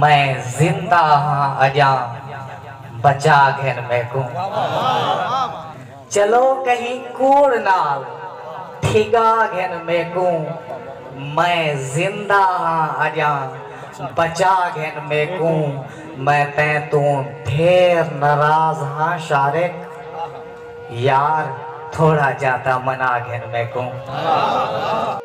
میں زندہ ہاں اجاں بچا گھن میکوں چلو کہیں کوڑ نال ٹھگا گھن میکوں میں زندہ ہاں اجاں بچا گھن میکوں میں تیں توں ڈھیر ناراض ہاں شارق یار تھوڑا جاہ تاں منا گھن میکوں۔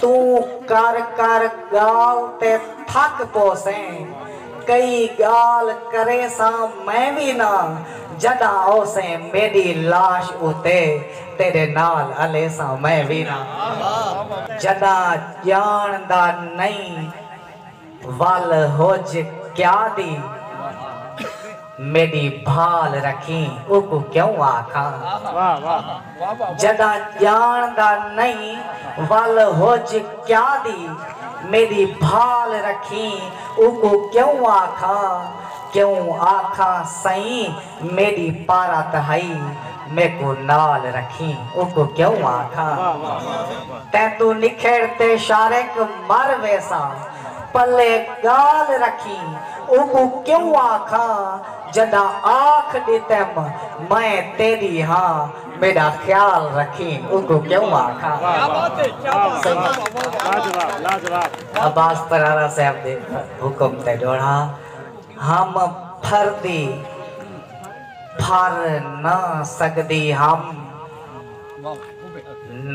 توں کر کر ڳال تے تھک پوسیں کئی ڳال کریساں میں وی نہ جݙاں اوسیں میݙی لاش اتے تیݙے نال الیساں میں وی نہ جݙاں ڄاݨدا نئیں ول ہج کیا دی میݙی بھال رکھیں اوکوں کیوں آکھاں جݙاں ڄاݨدا نئیں ول ہج کیا دی میݙی بھال رکھیں اوکوں کیوں آکھاں کیوں آکھاں سئیں میݙی پارا تہائی میکوں نال رکھیں اوکوں کیوں آکھاں تیں توں نکھڑ تے شارق مر ویساں پلے ڳال رکھیں اوکوں کیوں آکھاں جݙاں آکھ ݙتم میں تیݙی ہاں میݙا خیال رکھیں اوکوں کیوں آکھاں عباس پرارا صاحب دے حکم تے ݙوہڑا۔ ہم پھر دی پھر نہ سگدی ہم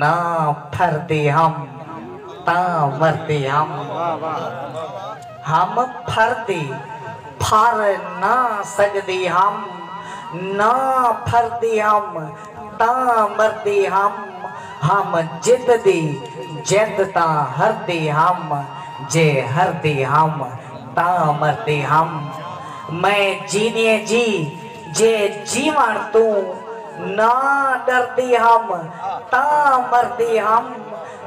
نہ پھر دی ہم تاں مردی ہم ہم پھر دی پھر نہ سگدی ہم نہ پھر دی ہم تاں مردے ہم ہم جت دی جت تاں ہردے ہم جے ہردے ہم تاں مردے ہم میں جینیے جی جے جیوݨ توں نہ ݙردے ہم تاں مردے ہم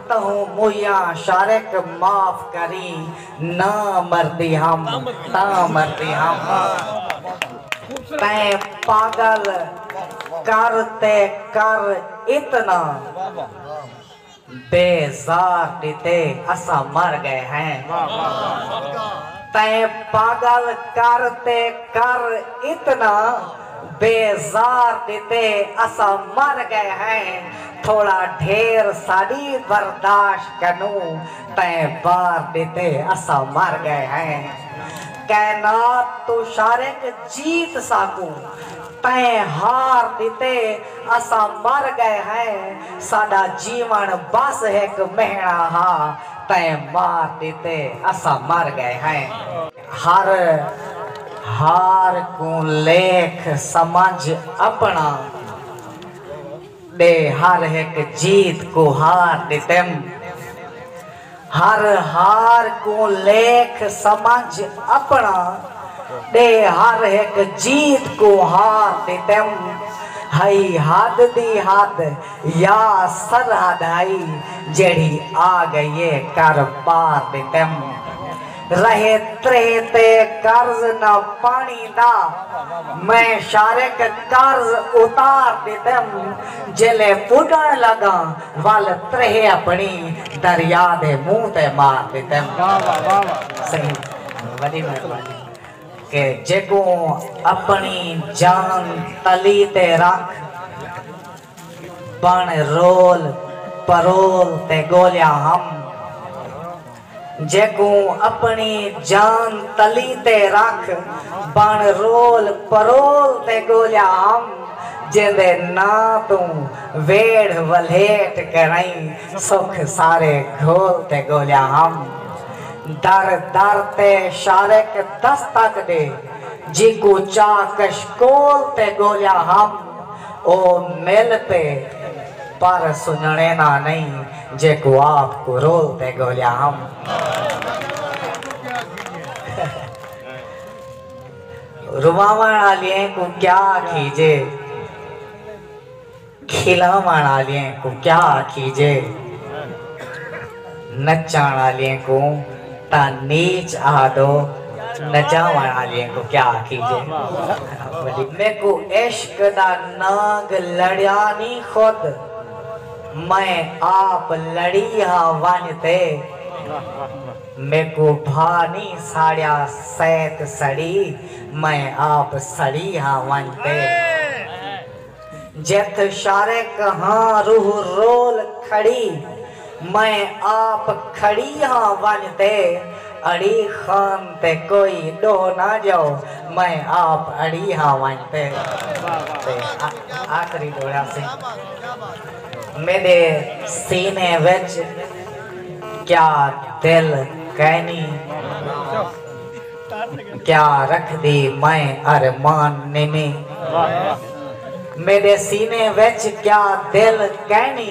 تہوں مویاں شارق معاف کریں نہ مردی ہم تاں مردی ہم تیں پاگل کر تے کر اتنا بے زار ڈتے اساں مر گئے ہیں تیں پاگل کر تے کر اتنا بے زار ڈتے اساں مر گئے ہیں تھوڑا ڈھیر ساڈی برداشت کنوں تیں بار ݙتے اساں مر ڳئے ہیں کائنات توں شارق جیت ساکوں تیں ہار ݙتے اساں مر ڳئے ہیں ساݙا جیوݨ بس ہک مہݨا ہا تیں مار ݙتے اساں مر ڳئے ہیں۔ ہر ہار کوں لیکھ سمجھ اپݨا۔ ݙے ہر ہک جیت کوں ہار ݙتیم ہر ہار کوں لیکھ سمجھ اپݨا ݙے ہر ہک جیت کوں ہار ݙتیم ہئی حد دی حد یا سرحد ہئی جیڑھی آ ڳئی اے کر پار ݙتیم رہے تریہہ تے قرض نہ پاݨی دا میں شارق قرض اتار ݙتم جیلے پݙݨ لڳاں ول تریہہ اپݨی دریا دے منہ تے مار ݙتم سئیں وݙی مہربانی کہ جیکوں اپݨی جان تلی تے رکھ بݨ رول پرول تے ڳولیا ہم جیکوں اپݨی جان تلی تے رکھ بݨ رول پرول تے ڳولیا ہم جیندے ناں توں ویڑھ ولھیٹ کرئیں سکھ سارے گھول تے ڳولیا ہم در در تے شارق دستک ݙے جیکوں چا کشکول تے ڳولیا ہم او مل پئے پر سنڄݨینا نئیں جے کواب کوں رول تے گھولیا ہم۔ رواوݨ آلیں کوں کیا آکھیجے۔ کھلاوݨ آلیں کوں کیا آکھیجے۔ نچاݨ آلیں کوں تاں نیچ آہدو نچاوݨ آلیں کوں کیا آکھیجے۔ میکوں عشق دا نانگ لڑیا نی خود۔ میں آپ لڑی ہا ونج تے میکوں بھا نی ساڑیا سیت سڑی میں آپ سڑی ہا ونج تے جتھ شارک ہاں روح رول کھڑی میں آپ کھڑی ہا ونج تے اڑی خان تے کوئی ڈو نہ جاؤ میں آپ اڑی ہا ونج تے آخری ڈوڑا سی میڈے سینے وچ کیا دل کینی کیا رکھ دی میں ارمان نمی میڈے سینے وچ کیا دل کینی